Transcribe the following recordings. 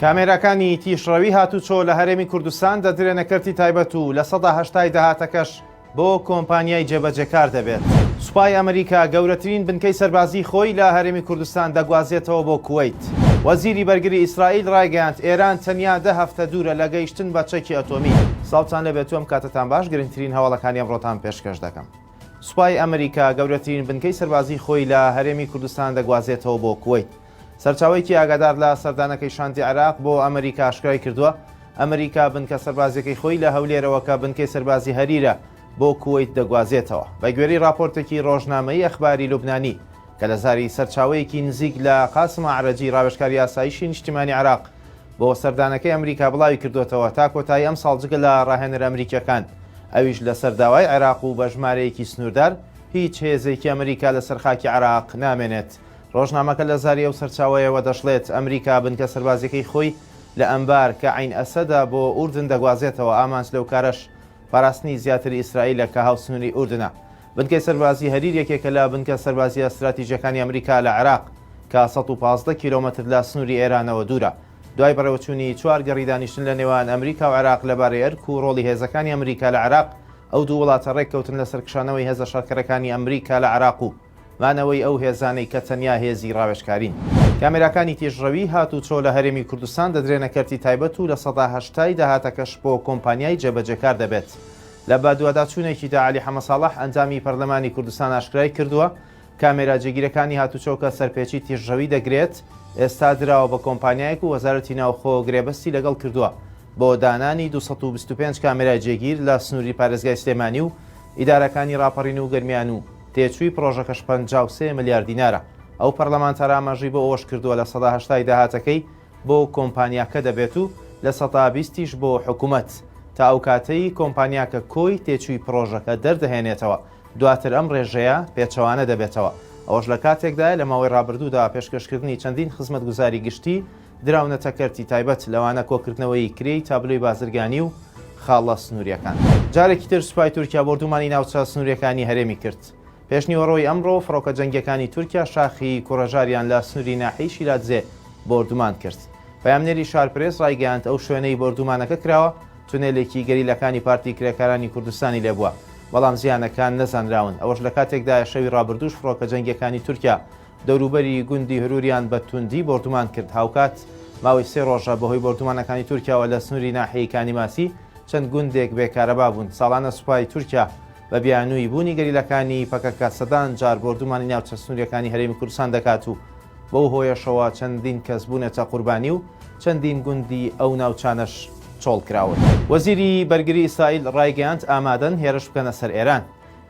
کامێراکانی تیشڕەوی هاتوچۆ لە هەرێمی کوردستان دەدرێنە کەرتی تایبەت و لە سەدا هەشتای داهاتەکەش بۆ کۆمپانیای جێبەجێکار دەبێت. سوپای ئەمریکا گەورەترین بنکەی سەربازی خۆی لە هەرێمی کوردستان دەگوازێتەوە بۆ کوەیت. وەزیری بەرگری ئیسرائیل ڕایگەیاند ئێران تەنیا دە هەفتە دوورە لە گەیشتن بە چەکی ئەتۆمی. سڵاوتان لێبێت و ئەم کاتەتان باش گرنگترین هەواڵەکانی ئەمڕۆتان پێشکەش دەکەم. سوپای ئەمریکا گەورەترین بنکەی سەربازیی خۆی لە هەرێمی کوردستان دەگوازێتەوە بۆ کوەیت. سەرچاوەیەکی ئاگادار لە سەردانەکەی شاندی عێراق بۆ ئەمریکا ئاشکرای کردووە، ئەمریکا بنکە سەربازییەکەی خۆی لە هەولێرەوە کە بنکەی سەربازی هەریرە بۆ کوەیت دەگوازێتەوە. بەگوێرەی راپۆرتێکی رۆژنامەی ئەخباری لوبنانی کە لە زاری سەرچاوەیەکی نزیک لە قاسم ئەعرەجی راوێژکاری ئاسایشی نیشتیمانی عێراق بۆ سەردانەکەی ئەمریکا بڵاوی کردوتەوە تا کۆتایی ئەم ساڵ جگە لە ڕاهێنەر ئەمریکیەکان ئەویش لەسەر داوای عێراق و بە ژمارەیەکی سنووردار هیچ هێزێکی ئەمریکا لەسەر خاکی عێراق نامێنێت ڕۆژنامەکە لە زاری ئەو سەرچاوەیەوە دەشڵێت ئەمریکا بنکە سەربازیەکەی خۆی لە ئەمبار کە عین ئەسەدا بۆ ئوردن دەگوازێتەوە ئامانج لەو کارەش پاراستنی زیاتری ئیسرائیلە کە هاوسنووری ئوردنە بنکەی سەربازی هەریر یەکێکە لە بنکە سەربازییە ستراتیجییەکانی ئەمریکا لە عێراق، کە سەد و پازدە کیلۆمەتر لە سنووری ئێرانەوە دوورە. دوای بەڕێوەچوونی چوار گەڕی دانیشتن لە نێوان ئەمریکا و عێراق لەبارەی ئەرک و ڕۆڵی هێزەکانی ئەمریکا لە عێراق، ئەو دوو وڵاتە ڕێککەوتن لەسەر کشانەوەی هێزە شەڕکەرەکانی ئەمریکا لە عێراق و مانەوەی ئەو هێزانەی کە تەنیا هێزی ڕاوێژکارین. کامێراکانی تیژڕەوی هاتووچۆ لە هەرێمی کوردستان دەدرێنە کەرتی تایبەت و لە سەدا هەشتای داهاتەکەش بۆ کۆمپانیای جێبەجێکار دەبێت. لە بەدواداچوونێکیدا عەلی حەمەساڵح ئەندامی پەرلەمانی کوردستان ئاشکرای کردووە، کامێرا جێگیرەکانی هاتوچۆکە سەرپێچی تیژڕەوی دەگرێت، ئێستا دراوە بە کۆمپانیایەک و وەزارەتی ناوخۆ گرێبەستی لەگەڵ کردووە بۆ دانانی دوو سەد و بیست و پێنج کامێرای جێگیر لە سنووری پارێزگای سلێمانی و ئیدارەکانی ڕاپەڕین و گەرمیان و تێچووی پڕۆژەکەش پەنجا و سێ ملیار دینارە. ئەو پەرلەمانتارە ئاماژەی بۆ ئەوەش کردووە لە سەدا هەشتای داهاتەکەی بۆ کۆمپانیاکە دەبێت و لە سەتا بیستیش بۆ حکومەت، تا ئەو کاتەی کۆمپانیاکە کۆی تێچووی پڕۆژەکە دەردەهێنێتەوە، دواتر ئەم ڕێژەیە پێچەوانە دەبێتەوە، ئەوەش لە کاتێکدایە لە ماوەی ڕابردوودا پێشکەشکردنی چەندین خزمەتگوزاری گشتی دراونەتە کەرتی تایبەت، لەوانە کۆکردنەوەی کرێی تابلۆی بازرگانی و خاڵە سنوورییەکان. جارێکی تر سوپای تورکیا بۆردومانی ناوچە سنوورییەکانی هەرێمی کرد، پێشنیوەڕۆی ئەمڕۆ فڕۆکە جەنگییەکانی تورکیا شاخی کوڕەژاریان لە سنووری ناحیەی شیلادزێ بۆردومان کرد. پەیامنێری شارپرێس ڕایگەیاند، ئەو شوێنەی بۆردومانەکە کراوە، تونێلێکی گەریلاکانی پارتی کرێکارانی کوردستانی لێ بووە، بەڵام زیانەکان نەزانراون. ئەوەش لە کاتێکدایە شەوی ڕابردووش فڕۆکە جەنگییەکانی تورکیا دەوروبەری گوندی هروریان بە توندی بۆردومان کرد. هاوکات ماوەی سێ ڕۆژە بەهۆی بۆردومانەکانی تورکیاوە لە سنووری ناحیەی کانیماسی چەند گوندێک بێ کارەبا بوون. ساڵانە سوپای تورکیا بە بیانووی بوونی گەریلاکانی پەکەکە سەدان جار بۆردومانی ناوچە سنووریەکانی هەرێمی کوردستان دەکات و بەو هۆیەشەوە چەندین کەس بوونەتە قوربانی و چەندین گوندی ئەو ناوچانەش چۆڵ کراون. وەزیری بەرگری ئیسرائیل ڕایگەیاند، ئامادەن هێرش بکەنە سەر ئێران.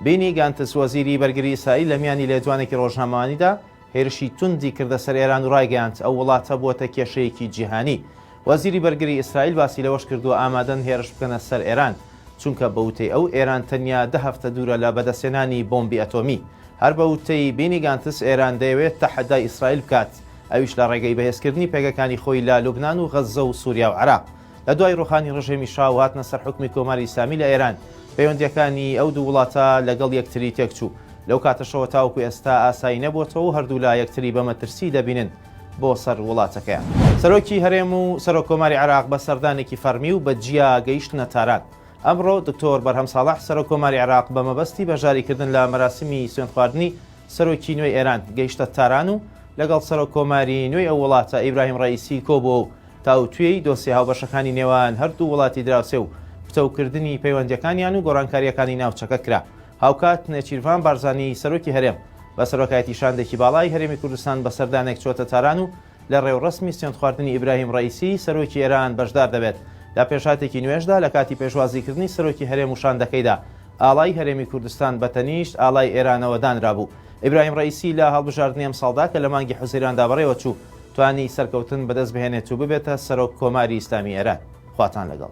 بینی گانتز وەزیری بەرگری ئیسرائیل لە میانی لێدوانێکی ڕۆژنامەوانیدا، هێرشی توندی کردە سەر ئێران و ڕایگەیاند، ئەو وڵاتە بووەتە کێشەیەکی جیهانی. وەزیری بەرگری ئیسرائیل باسی لەوەش کردووە، ئامادەن هێرش بکەنە سەر ئێران، چونکە بە وتەی ئەو، ئێران تەنیا دە هەفتە دوورە لە بەدەستهێنانی بۆمبی ئەتۆمی. هەر بە وتەی بینی گانتس، ئێران دەیەوێت تەحەدای ئیسرائیل بکات، ئەویش لە ڕێگەی بەهێزکردنی پێگەکانی خۆی لە لوبنان و غەززە و سووریا و عێراق. لە دوای ڕوخانی ڕژێمی شا و هاتنە سەر حوکمی کۆماری ئیسلامی لە ئێران، پەیوەندییەکانی ئەو دوو وڵاتە لەگەڵ یەکتری تێکچوو. لەو کاتەشەوە تاوەکو ئێستا ئاسایی نەبووەتەوە و هەردوولا یەکتری بە مەترسی دەبینن بۆ سەر وڵاتەکەیان. سەرۆکی هەرێم و سەرۆک کۆماری عێراق بە سەردانێکی فەرمی و بە جیا گەیشتنە تاران. ئەمڕۆ دکتۆر بەرهەم ساڵح سەرۆک کۆماری عێراق بە مەبەستی بەشداریکردن لە مەراسیمی سوێندخواردنی سەرۆکی نوێی ئێران گەیشتە تاران و لەگەڵ سەرۆک کۆماری نوێی ئەو وڵاتە ئیبراهیم ڕەئیسی کۆبووە و تاوتوێی دۆسیە هاوبەشەکانی نێوان هەردوو وڵاتی دراوسێ و پتەوکردنی پەیوەندییەکانیان و گۆڕانکارییەکانی ناوچەکە کرا. هاوکات نێچیرڤان بارزانی سەرۆکی هەرێم بە سەرۆکایەتی شاندێکی باڵای هەرێمی کوردستان بە سەردانێک چووەتە تاران و لە ڕێوڕەسمی سوێندخواردنی ئیبراهیم ڕەئیسی سەرۆکی ئێران بەشدار دەبێت. لە پێشهاتێکی نوێژدا لە کاتی پێشوازیکردنی سەرۆکی هەرێم و شاندەکەیدا ئاڵای هەرێمی کوردستان بە تەنیشت ئاڵای ئێرانەوە دانرابوو. ئیبراهیم ڕەئیسی لە هەڵبژاردنی ئەمساڵدا کە لە مانگی حوزەیراندا بەڕێوەچوو، توانی سەرکەوتن بەدەست بهێنێت و ببێتە سەرۆک کۆماری ئیسلامی ئێران. خواتان لەگەڵ.